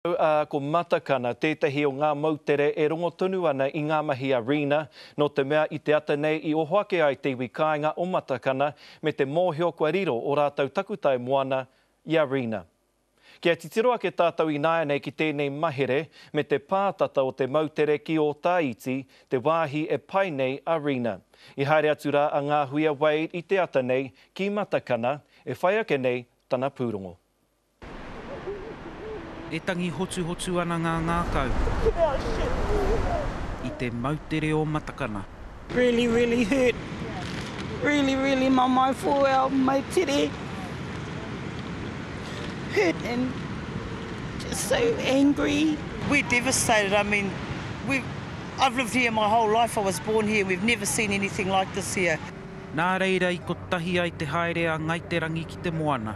Rangahau, ā, ko Matakana tētahi o ngā moutere e rongo tonu ana i ngā mahi a Rina, nō te mea i te ata nei i oho ake ai te iwi kāinga o Matakana me te mōhio kua riro ō rātou takutai moana i a Rina. Kia titiro ake tātou ināianei ki tēnei mahere me te pātata o te moutere ki Ōtāiti, te wāhi e pai nei a Rina. I haere atu rā a Ngāhuia Wade i te ata nei ki Matakana, e whai ake nei tana pūrongo. E tangi hotuhotu ana ngā ngākau i te moutere o Matakana. Really really hurt really really mamae for our moutere hurt and just so angry. We're devastated I mean we I've lived here my whole life I was born here we've never seen anything like this here. Nā reira i kotahi ai te haere a Ngai Te Rangi ki te moana.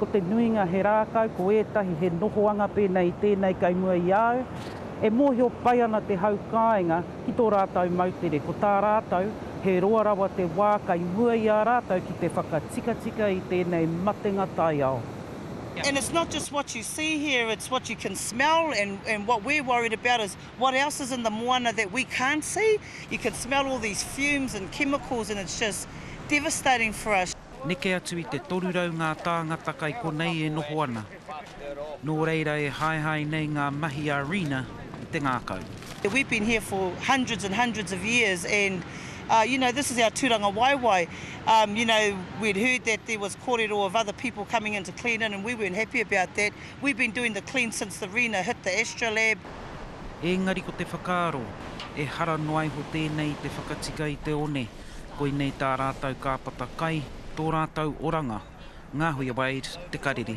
Ko te nuinga he rākau, ko ētahi he nohoanga pēnei i tēnei kei mua i a au. E mōhio pai ana te hau kāinga ki tō rātou moutere, ko tā rātou he roa rawa te wā kei mua i a rātou ki te whakatikatika i tēnei matenga taiao. And it's not just what you see here, it's what you can smell and and what we're worried about is what else is in the moana that we can't see. You can smell all these fumes and chemicals and it's just devastating for us. Neke atu i te 300 ngā tāngata kai konei e noho ana. Nō reira e haehae nei ngā mahi a Rina i te ngākau. We've been here for hundreds and hundreds of years and uh you know this is our turanga waewae um you know we'd heard that there was korero of other people coming in to clean in and we weren't happy about that we've been doing the clean since the Rina hit the astrolab. Ēngari ko te whakaaro, ehara noaiho tēnei i te whakatika i te one. Koinei tā rātou kāpata kai, tō rātou oranga. Ngāhuia Wade, Te Karere.